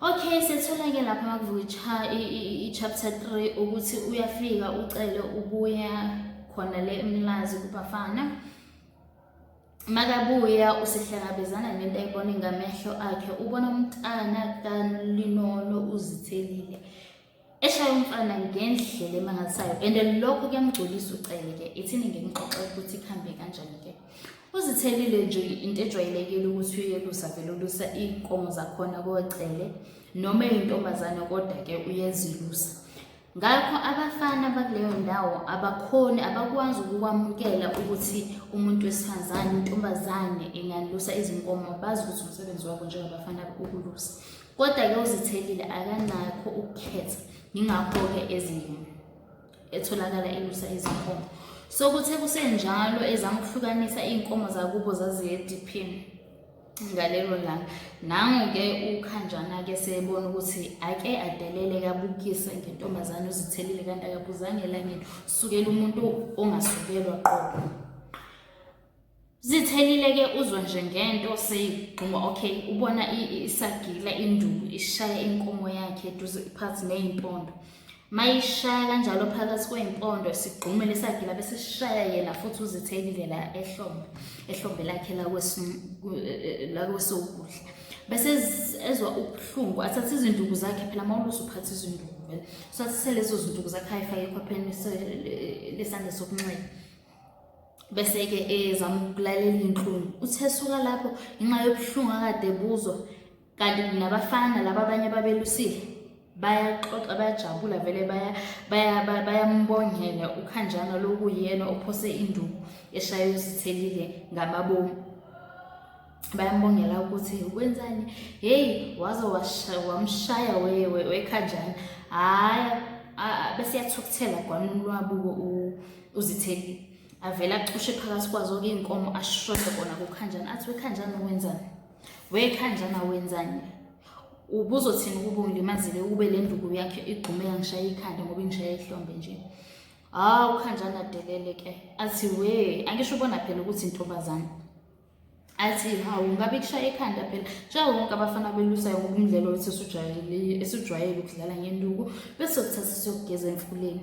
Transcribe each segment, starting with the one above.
Okay setholake lapha makuvuka i-chapter 3 ukuthi uyafika ucele ubuya khona le emlazi kubafana makabuya usehlangabezana nento ayibone ngamehlo akhe ubona umntana kalinono uzithelile eshaya umfana ngendlela emangalisayo and lokho kuyamgculisa ucele ke ithini ngimxoxe ukuthi kuhambe kanjani ke uzithelile nje into ejwayelekile ukuthi uyelusa vele ulusa iy'nkomo zakhona kocele noma eyintombazane kodwa ke uyezilusa ngakho abafana bakuleyo ndawo abakhoni abakwazi ukukwamukela ukuthi umuntu wesifazane intombazane ingalusa izinkomo bazi ukuthi umsebenzi wabo njengabafana ukulusa Kodwa-ke uZithelile akanakho ukukhetha yingakho-ke ezingeni etholakala elusa izinkomo. Sokuthe kusenjalo ezama ukuhlukanisa iy'nkomo zakubo zaziye ediphini ngalelo langa. Nangu-ke uKhanjana-ke sebona ukuthi ake adelele kabukise ngentombazane uZithelile kanti akabuzanga elangeni, sukela umuntu ongasukelwa qobo. zithelile ke uzwe nje ngento seyigquma okay ubona isagila induku ishaya inkomo yakhe eduze phansi neyimpondo mayishaya kanjalo phakathi kweyimpondo sigqume lesagila bese sishaya yena futhi uzithelile la ehlombe ehlombe lakhe lakwesokudla bese ezwa ubuhlungu athathe izinduku zakhe phela mawulusa uphatha izinduku vele so athathe lezo zinduku zakhe ayifake ekhopheni lesandla sokunxele bese-ke ezama ukulalela iy'nhlungu uthe suka lapho ngenxa yobuhlungu akade buzwa kanti nabafana laba abanye babelusile bayaxoxa bayajabula vele bayambongela ukhanjana lokuyena ophose induku eshaye uzithelile ngamabomu bayambongela ukuthi ukwenzani heyi waze wamshaya wekhanjani hhayi bese yathukuthela gwanini lwabuko uzitheli avele acushe phakathi kwazo oke iy'nkomo ashode kona kukhanjani athi wekhanjani wenzani wekhanjani awenzani ubuzothini ukuba ungilimazile ukube le nduku yakhe igqume yangishaya ikhanda ngoba ingishaya ihlombe nje hawu khanjani adelele ke athi we angisho ubona phela ukuthi intombazane athi hawu ngabe kushaya ekhanda phela njengawo wonke abafana abelusayo ngokumdlalo esijwayele ukudlala ngenduku bese kuthatha siyokugeza emfuleni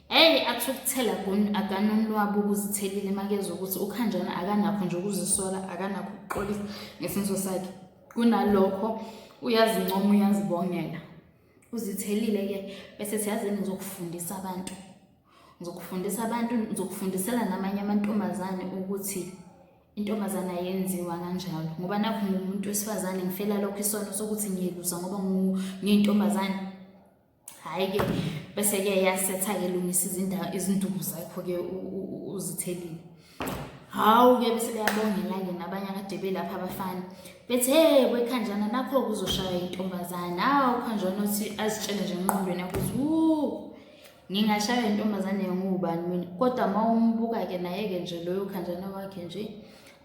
Hey athi ukuthela akanonwabu ukuzithelile makezwa ukuthi ukhanjana akanakho nje ukuzisola akanakho ukuxolisa ngesenzo sakhe kunalokho uyazincoma uyazibongela uzithelile-ke bese siyazini zokufundisa abantu ngizokufundisa abantu ngizokufundisela namanye amantombazane ukuthi intombazane ayenziwa kanjalo ngoba nakho ngumuntu wesifazane ngifela lokho isono sokuthi ngiyelusa ngoba ngiyintombazane hhayi-ke bese-ke yasetha-ke lungisa izindawo izinduku zakho-ke uzithelile hawu-ke bese beyabongela-ke nabanye akade belapha abafana bethi hey kwekhanjana nakho kuzoshaya intombazane hawu khanjana uthi azitshele nje enqondweni yakho ukuthi Ngingashaywa intombazane nguwubani mina kodwa uma umbuka-ke naye-ke nje loyo khanjana wakhe nje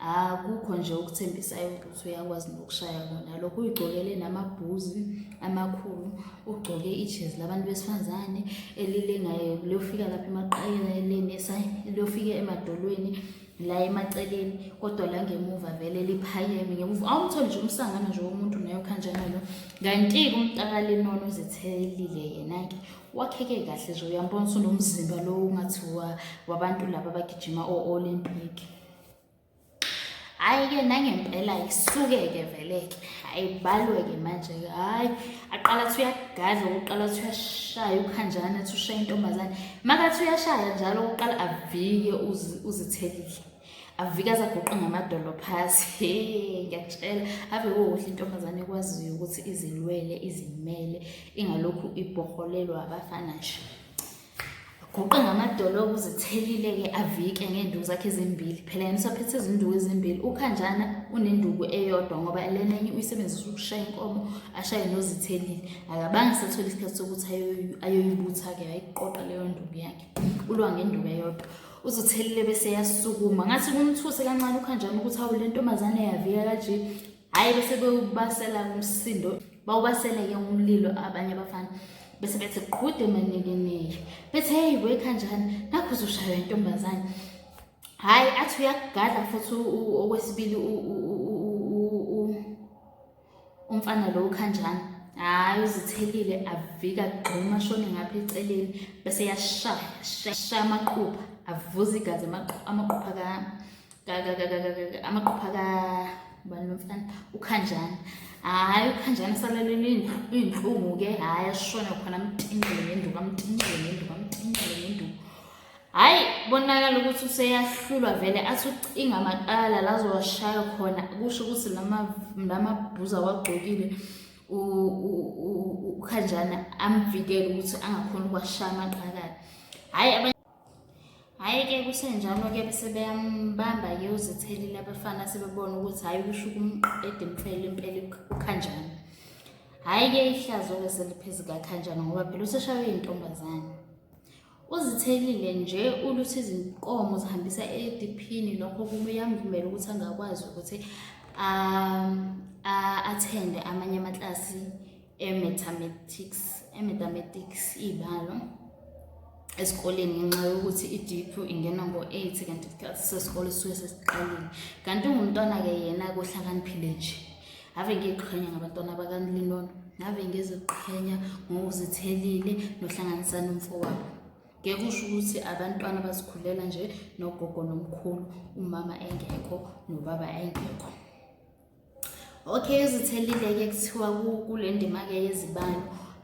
akukho nje okuthembisayo ukuthi uyakwazi nokushaya kona lokho uyigcokele namabhuzi amakhulu ugcoke ijezi labantu besifazane elilengayo liyofika lapha emaqayeleni liyofika emadolweni la emaceleni kodwa la ngemuva vele liphakeme ngemuva awumtholi nje umsangano nje womuntu naye okhanjana lo kanti-ke umtakalinono uzithelile yena-ke wakheke kahle nje uyambona usunomzimba lo ungathi wabantu laba abagijima o-olympic hhayi-ke nangempela isuke-ke vele-ke hhayi balwe-ke manje-ke hhayi aqala athi uyagadla ukuqala athi uyashaya ukhanjana athi ushaya intombazane makathi uyashaya njalo ukuqala avike uzithelile avike azaguqe ngamadolo phasi he ngiyakutshela ave kukuhle intombazane ekwaziyo ukuthi izilwele izimele ingalokhu ibhoholelwa abafana nje guqe ngamadolo okuzithelile-ke avike ngey'nduku zakhe ezimbili phela yena usaphethe izinduku ezimbili ukhanjana unenduku eyodwa ngoba lena enye uyisebenzisa ukushaya inkomo ashaye nozithelile akabanga sethole isikhathi sokuthi ayoyibutha-ke ayiqoqa leyo nduku yakhe ulwa ngenduku eyodwa uzothelile bese yasukuma ngathi kumthuse kancane ukhanjana ukuthi awu le ntombazane yavika kaje hhayi bese bewubasela umsindo bawubasele-ke umlilo abanye abafana bese bethi qhude manekeneye bethi heyi wekhanjani nakho uzoshaywa intombazane hhayi athi uyakugadla futhi okwesibili umfana lo ukhanjani hhayi uzithelile avika gquma shone ngapha eceleni bese yashaya shaya amaqupha avuza igazi amaqupha ka amaqupha ka ubani lomfana ukhanjana hhayi ukhanjana salalele iy'nhlungu-ke hhayi ashona khona amtinqele ngenduku amtinqele ngenduku amtinqele ngenduku Hhayi bonakala ukuthi useyahlulwa vele athi ucinga amaqala lazowashaya khona kusho ukuthi lamabhuza wagqokile ukhanjana amvikele ukuthi angakhoni ukwashaya amaqakala hhayi hhayi-ke kusenjalo-ke bese beyambamba-ke uzithelile abafana sebebona ukuthi hhayi kusho ukumqeda impela impela ukhanjana hhayi-ke ihlazo-ke seliphezu kakhanjana ngoba phela useshawe iy'ntombazane Uzithelile nje uluthi izinkomo zihambisa ediphini lokho kuyamvumela ukuthi angakwazi ukuthi um, athende amanye amaklasi e-mathematics e-mathematics iy'balo esikoleni ngenxa yokuthi idiphu ingena ngo-eight kanti isikhathi sesikole sisuke sesiqalile kanti ungumntwana-ke yena kohlakaniphile nje ave ngiqhenya ngabantwana bakanilinono ngave ngiziqhenya ngokuzithelile nohlanganisa nomfowabo ngeke usho ukuthi abantwana bazikhulela nje nogogo nomkhulu umama engekho nobaba engekho okay izithelile-ke kuthiwa kule ndima-ke yezibalo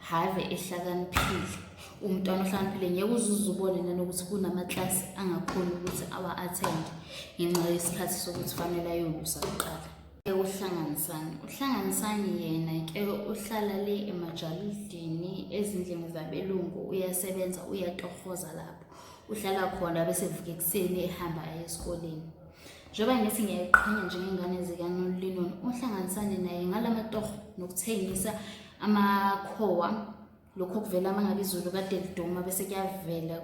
have ehlakaniphile umntwana ohlakaniphile ngeke uzuze ubone nanokuthi kunamaklasi angakhoni ukuthi awa-athende ngenxa yesikhathi sokuthi fanele ayolusa kuqala uhlanganisani uhlanganisani yena ke uhlala le emajalidini ezindlini zabelungu uyasebenza uyatohoza lapho uhlala khona bese evuka ekuseni ehamba aye esikoleni njengoba ngithi ngiyayiqhenya njengey'ngane zikanolinon uhlanganisane naye ngala matoho nokuthengisa amakhowa lokho kuvela uma ngabe izulu kade liduma bese kuyavela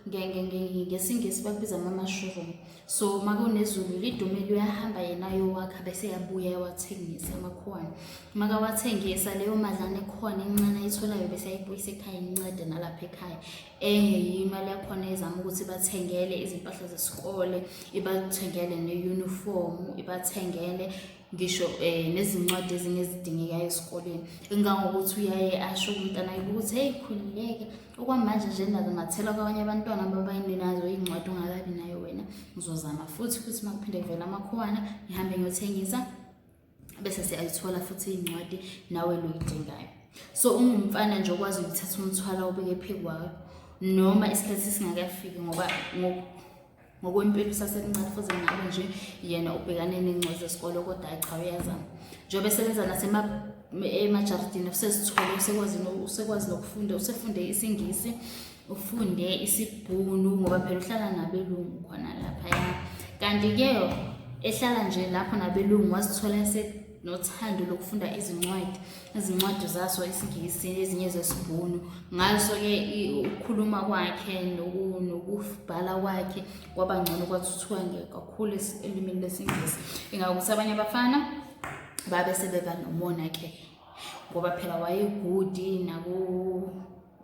ngesingisi bakubiza ngama-mushroom so uma kunezulu lidume luyahamba yena yowakha bese yabuya yawathengisa amakhowane uma kawathengisa leyo madlana ekhona encane ayitholayo bese ayibuyisa ekhaya incede nalapha ekhaya enye yimali yakhona ezama ukuthi bathengele izimpahla zesikole ibathengele ne-uniform ibathengele ngisho um nezincwadi ezinye ezidingekayo esikoleni engangokuthi uyaye asho umntana yibo ukuthi heyi khululeke okwamanje nje nazo ngathela kwabanye abantwana ababayini nazo iy'ncwadi ungakabi nayo wena ngizozama futhi ukuthi uma kuphinde kuvela amakhowana ngihambe ngiyothengisa bese siyayithola futhi iy'ncwadi nawe loyidingayo so ungumfana nje okwazi ukuthatha umthwalo obeke phekwakho noma isikhathi singakafiki ngoba ngokwempilo usasemncane futhi ngabe nje yena ubhekane nengcwezi zesikole kodwa hayi cha uyazama njengoba esebenza nasema emajaridini usezithole usekwazi usekwazi nokufunda usefunde isingisi ufunde isibhunu ngoba phela uhlala nabelungu khona laphaya kanti-ke ehlala nje lapho nabelungu wazithola nothando lokufunda izincwadi izincwadi zaso isingisi ezinye zesibhunu ngaso-ke ukukhuluma kwakhe nokubhala kwakhe kwaba ngcono kwathuthuka kakhulu elimini lesingisi ingakuthi abanye abafana babe sebeba nomona-ke ngoba phela wayegudi naku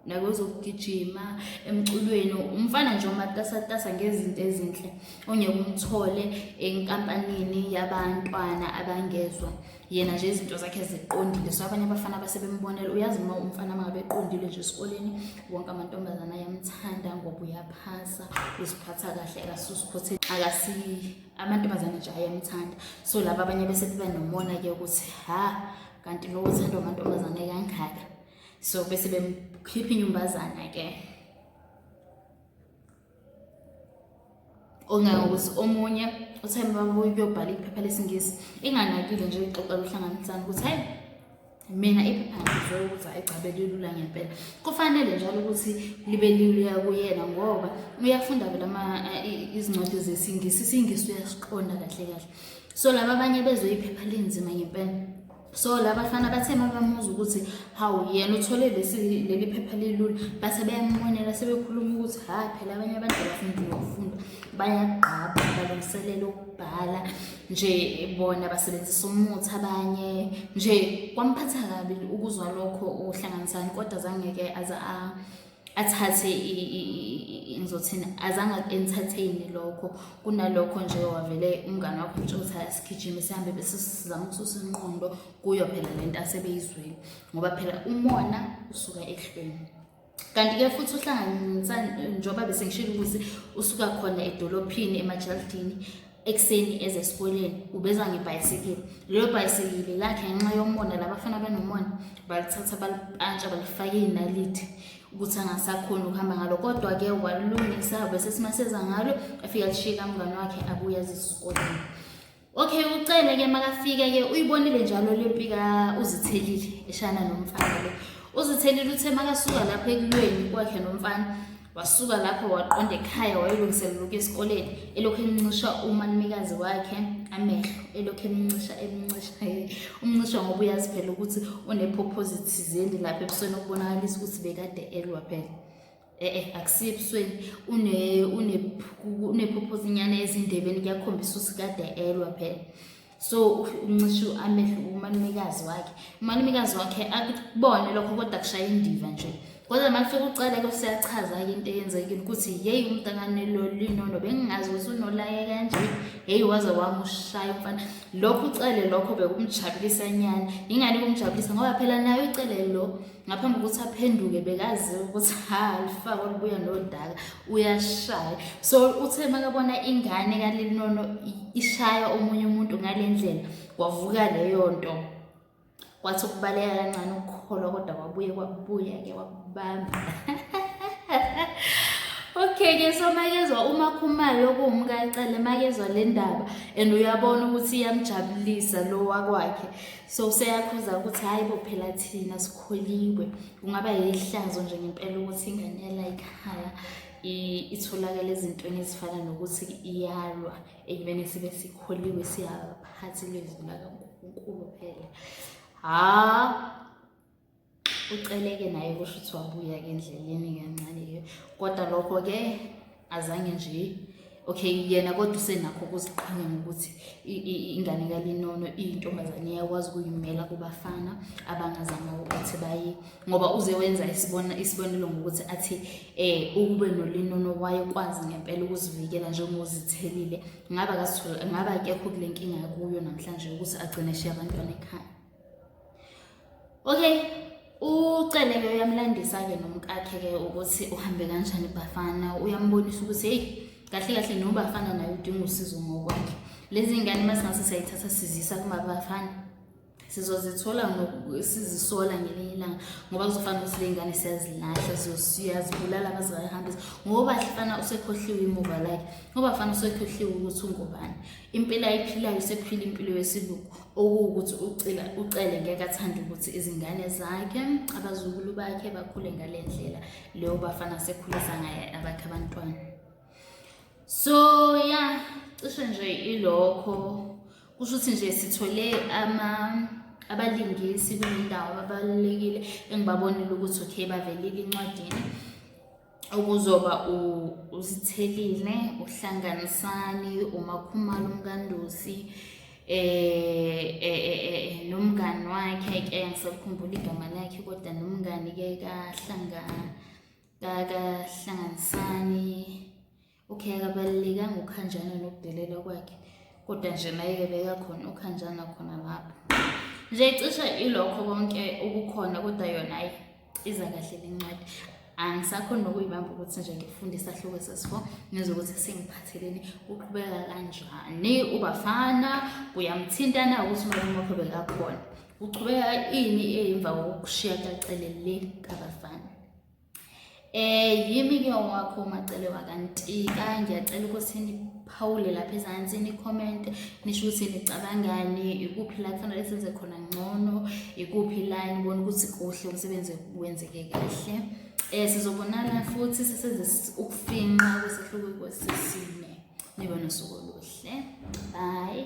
nakwezokugijima emculweni umfana nje omatasatasa ngezinto ezinhle ongeke umthole enkampanini yabantwana abangezwa yena nje izinto zakhe ziqondile so abanye abafana abasebembonela uyazi uma umfana mangabe eqondile nje esikoleni wonke amantombazana ayamthanda ngoba uyaphasa uziphatha kahle akasusikhothe akasi amantombazana nje ayamthanda so laba abanye bese beba nomona-ke ukuthi ha kanti lowo uthandwa amantombazane kangaka so bese bemkhipha inyumbazana ke ongangokuthi omunye uthe babuyobhala iphepha lesingisi inganakile nje ixoxa luhlanganisana ukuthi hayi mina iphepha ngizwe ukuthi ayigcabe lilula ngempela kufanele njalo ukuthi libe liluya kuyena ngoba uyafunda vele eh, izincwadi zesingisi isingisi uyasiqonda kahle kahle so laba abanye bezwe iphepha linzima ngempela so labafana bathe uma bamuza ukuthi hawu yena uthole leli phepha lilula base beyamonela sebekhuluma ukuthi hhayi phela abanye abantu abafundile ukufunda bayagqaba balungiselela ukubhala nje bona basebenzisa umuthi abanye nje kwamphatha kabi ukuzwa lokho uhlanganisani kodwa zangeke aze a athathe ngizothini azange entertain lokho kunalokho nje wavele umngane wakho utsho ukuthi asigijime sihambe bese sizama ukususa inqondo kuyo phela le nto asebeyizwile ngoba phela umona usuka ehlweni kanti-ke futhi uhlanganisa njengoba bese ngishilo ukuthi usuka khona edolophini emajaldini ekuseni eze esikoleni ubeza ngebhayisikili lelo bhayisikili lakhe ngenxa yomona labafana banomona balithatha balipantsha balifake iy'naliti ukuthi angasakhoni ukuhamba ngalo kodwa-ke walilungisa bese simaseza ngalo afike alishiye kamngane wakhe abuye azisikoleni okay ucele-ke makafike-ke uyibonile njalo le mpika uzithelile eshana nomfana lo uzithelile uthe makasuka lapho ekulweni kwakhe nomfana Wasuka lapho waqonda ekhaya wayolungiselela ukuya esikoleni elokhu emncisha umalumekazi wakhe amehlo elokhu emncisha emncisha umncisha ngoba uyazi phela ukuthi unephophozi thizeni lapha ebusweni okubonakalisa ukuthi bekade elwa phela e-e akusiye ebusweni unephophozinyana ezindebeni kuyakhombisa ukuthi kade elwa phela so uncishe amehlo kumalumekazi wakhe umalumekazi wakhe akubone lokho kodwa kushaya indiva nje kodwa uma kufika ucele ke siyachaza-ke into eyenzekile ukuthi yeyi umntakane lo linono bengingazi ukuthi unolaye kanje heyi waze wamushaya umfana lokho ucele lokho bekumjabulisa nyana yingani kumjabulisa ngoba phela nayo icele lo ngaphambi kokuthi aphenduke bekaziwa ukuthi ha lifako libuya nodaka uyashaya so uthe makabona ingane kalinono ishaya omunye umuntu ngale ndlela kwavuka leyo nto kwathi ukubaleka kancane ukukholwa kodwa kwabuye kwabuya-ke wakubamba okay-ke so makezwa uma khumalo okuwumkacele makezwa le ndaba and uyabona ukuthi iyamjabulisa lo wakwakhe so useyakhuza ukuthi hhayi bo phela thina sikholiwe kungaba yihlazo nje ngempela ukuthi ingane yala ikhaya itholakala ezintweni ezifana nokuthi iyalwa ekubeni sibe sikholiwe siyaphathi lezwi lakankulunkulu phela ha uceleke naye kusho ukuthi wabuya ke endleleni kancane ke kodwa lokho ke azange nje okay yena kodwa usenakho ukuziqhenya ngokuthi ingane kalinono iyintombazane iyakwazi ukuyimela kubafana abangazama ukuthi baye ngoba uze wenza isibona isibonelo ngokuthi athi eh ukube nolinono wayekwazi ngempela ukuzivikela njengozithelile ngaba kasithola ngaba akekho kule nkinga kuyo namhlanje ukuthi agcine shiya abantwana ekhaya okay ucele ke uyamlandisa-ke nomkakhe-ke ukuthi uhambe kanjani bafana uyambonisa ukuthi heyi kahle kahle nobafana naye udinga usizo ngokwakhe lezi ngane uma singase sayithatha sizisa kumabafana sizozithola sizisola ngelinye ilanga ngoba kuzofana ukuthi ley'ngane siyazilahla siyazibulala mazingayihambisa ngoba hlifana usekhohliwe imuva lakhe ngoba fana usekhohliwe ukuthi ungubani Impilo ayiphilayo sekuphila impilo yesibuku okuwukuthi ucela ucele ngeke athande ukuthi izingane zakhe abazukulu bakhe bakhule ngale ndlela leyo bafana sekhulisa ngaye abakhe abantwana so ya yeah, cishe nje ilokho kusho ukuthi nje sithole ama abalingisi kule ndawo ababalulekile engibabonile ukuthi okay bavelile incwadini okuzoba uzithelile uhlanganisani umakhumalo umkandosi eh, eh, eh, eh nomngani wakhe ke ngisakukhumbula igama lakhe kodwa nomngani ke kahlanga kahlanganisani Okay, akabalulekanga ukhanjana nokudelela kwakhe kodwa nje naye-ke bekakhona ukhanjana khona lapho nje cishe ilokho konke okukhona kodwa yona ayi iza kahle le ncwadi angisakhona nokuyibamba ukuthi nje ngifunde isahluko sesi-four ngizwe ukuthi sengiphatheleni kuqhubeka kanjani ubafana kuyamthintana ukuthi umalume wakho bekakhona kuqhubeka ini emva kokushiya kacelele kabafana Eh yimi ke owakho umacele wakantika ngiyacela ukuthi niphawule lapha ezansi ni-comment nisho ukuthi nicabangani ikuphi la kufanele senze khona ngcono ikuphi la nibona ukuthi kuhle umsebenzi wenzeke kahle eh sizobonana futhi sisenze ukufinqa kwesihluko kwesisine nibe nosuku oluhle bye